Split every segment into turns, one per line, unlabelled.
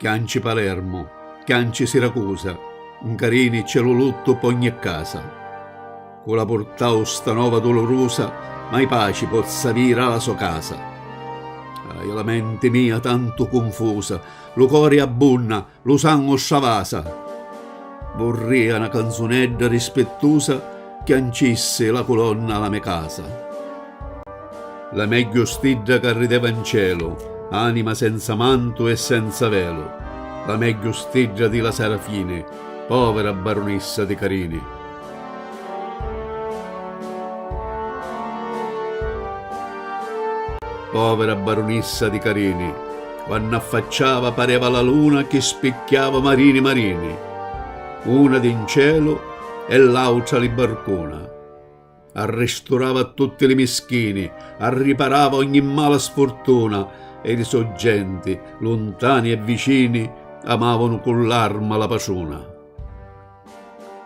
Chianci Palermu, chianci Siracusa, 'ncarini c'è lu luttu p'ogni casa. Cu la purtau sta nova dulurusa, mai paci pozza aviri a la so casa. Ahi la menti mia tantu cunfusa, lu cori abbunna, Lu sangu stravasa. Vurria na canzunedda rispittusa chiancissi la culonna a la me casa. La megghiu stidda ca rideva n celu, anima senza mantu e senza velu, la megghiu stidda di la Sarafini, povera barunissa di Carini. Povera barunissa di Carini, quannu affacciava pareva la luna chi spicchiava marini marini, una di 'n celu e l'autra li barcuna. Arristurava a tutti li mischini, arriparava ogni mala sfurtuna e li so' genti, luntani e vicini, amavanu cu l'arma la patruna.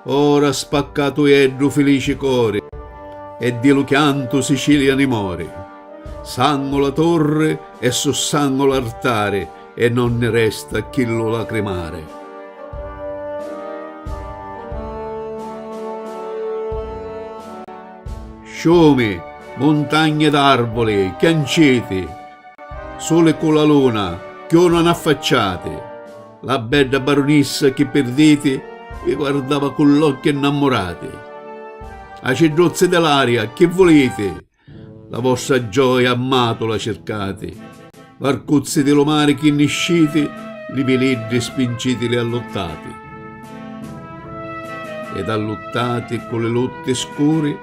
Ora spaccatu è ddu filici cori e di lu chiantu Sicilia ni mori. Sangu la torri e su sangu l'artari e non ni resta chi lu lacrimari. Sciumi, muntagni ed arvuli, chianciti, suli cu la luna cchiù non affacciati. La bedda barunissa chi pirditi vi guardava cu l'occhi nnammurati. Acidduzzi di l'aria, chi vuliti? La vostra gioia a Matula circati. Varcuzzi di lu mari chi nisciti, li viliddi spincitili alluttati. Ed alluttati cu li lutti scuri,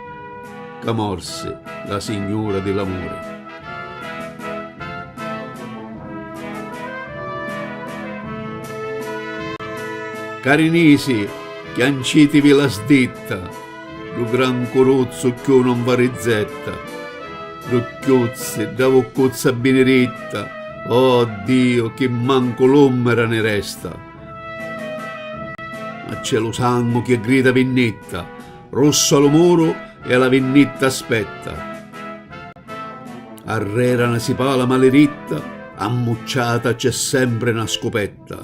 ca morsi la signura di l'amuri. Carinisi, chiancitivi la sditta, Ddu gran curuzzu cchiù non va rizzetta, Ddu cchiuzzi, dda vuccuzza biniritta, Oh Diu, chi mancu l'ummera ni resta! Ma c'è lu sangu chi grida vinnitta! Russu a lu muru e a la vinnitta aspetta. Arrera na sipala maliritta ammucciata c'è sempre na scupetta.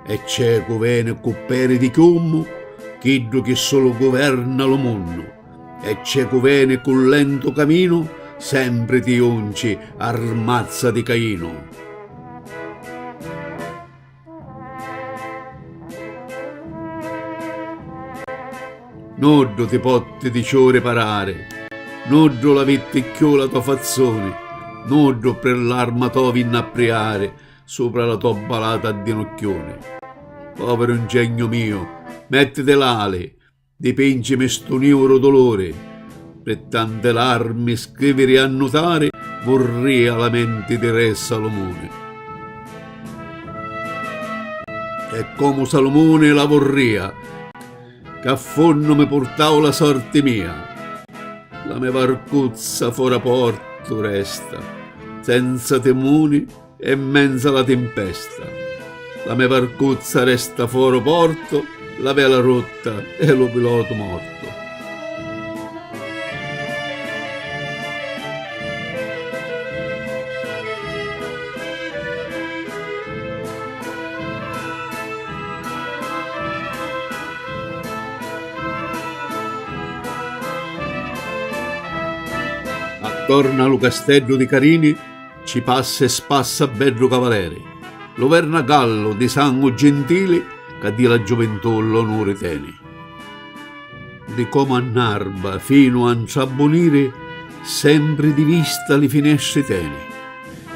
E c'è cu veni cu peri di chiummu chiddu chi sulu guverna lu munnu. E c'è cu veni cu lentu caminu sempre ti junci armazza di Cainu. Nuddu ti potti di ciù riparari, nuddu la vitti cchiù la to fazzuni, nuddu pri l'arma to vinni a priari supra la to balata a dinucchiuni. Poviru 'ngegnu miu, mettiti l'ali! Dipincimi stu niuru duluri. Pi tanti larmi scriviri e annutari vurria la menti di re Salumuni. E comu Salumuni la vurria. Ca a funnu mi purtau la sorti mia. La me varcuzza fora portu resta senza timuni. E 'mmenza la timpesta. La me varcuzza resta foro porto, la vela rotta e lu pilotu morto. Attorna a lu casteddu di Carini. Ci passa e spassa beddu cavaleri, Lu verna gallu di sangu gintili Ca di la giuvintù l'onuri teni. Di comu a n'arba finu a 'ntrabbuniri Sempri di vista li finestri teni.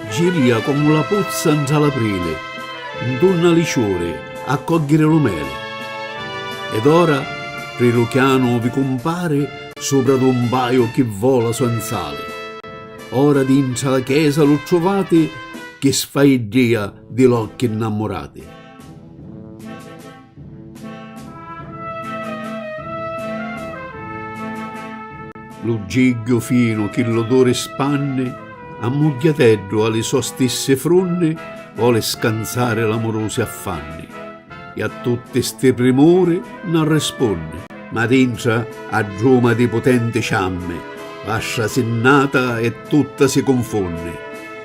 Girìa comu la puzza 'ntra l'aprili 'Ntunna li ciuri a cogghiri lu meli. Ed ora pri lu chianu vi cumpari Supra d'un paju chi vola senz'ali. Ora dintra la chesa lu truvati chi sfaiddìa di l'occhi nnammurati. Lu gigghiu finu chi l'oduri spanni a mugghiateddu a li so stissi frunni voli scanzari l'amurusi affanni. E a tutti sti primuri n'arrispunni. Ma dintra a druma di putenti ciammi vastra si nnata e tutta si cunfunni.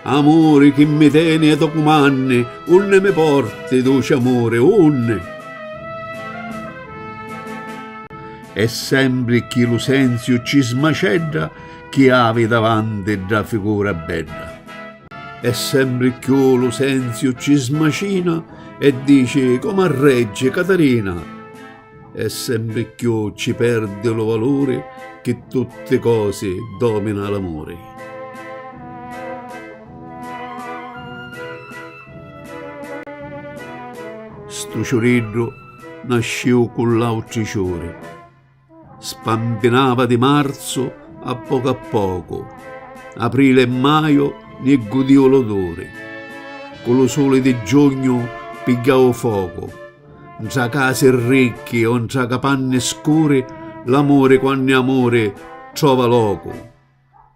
Amuri chi mi teni e to cumanni, unni mi porti, duci amuri, unni? E sempri cchi lu senziu ci smacedda chi havi davanti dda figura bedda. E sembri cchiù lu senziu ci smacina e dici comu a reggi Catarina, e sembri cchiù ci perdi lu valuri chi tutti cosi domina l'amuri. Stu ciuriddu nasciu cu l'autri ciuri. Spampinava di marzu a pocu a pocu, aprili e maju ni gudìu l'oduri. Cu lu suli di giugnu pigghiau focu, ntra casi ricchi o ntra capanni scuri, l'amuri quannu è amuri trova locu.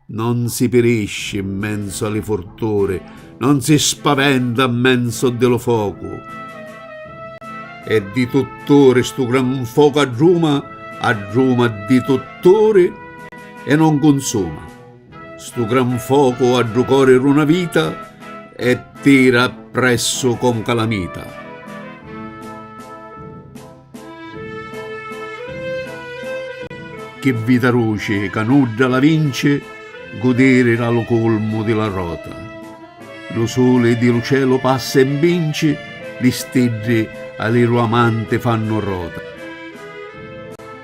Non si pirisci in menzo a li furturi, non si spaventa a menzo di lu focu. E di tutturi stu gran focu addruma, addruma di tutturi e non cunsuma. Stu gran focu a ddu cori d'una vita e tira appressu comu calamita. Chi vita ruci ca nudda la vinci gudiri la lu culmu di la rota lu suli di lu celu passa e mbinci li stiddi a li lu amanti fannu rota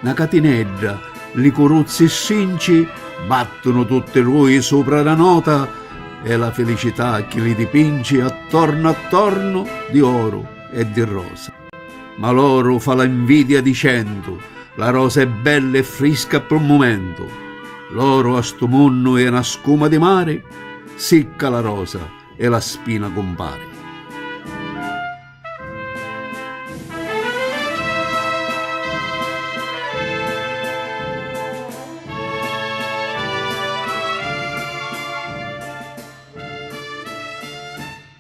na catinedda li curuzzi strinci battunu tutti rui supra la nota e la filicità chi li dipinci attornu attornu di oru e di rosa. Ma l'oru fa la nvidia dicendu, La rosa è bella e frisca ppru mumentu. L'oru a stu munnu è na scuma di mari, Sicca la rosa e la spina cumpari.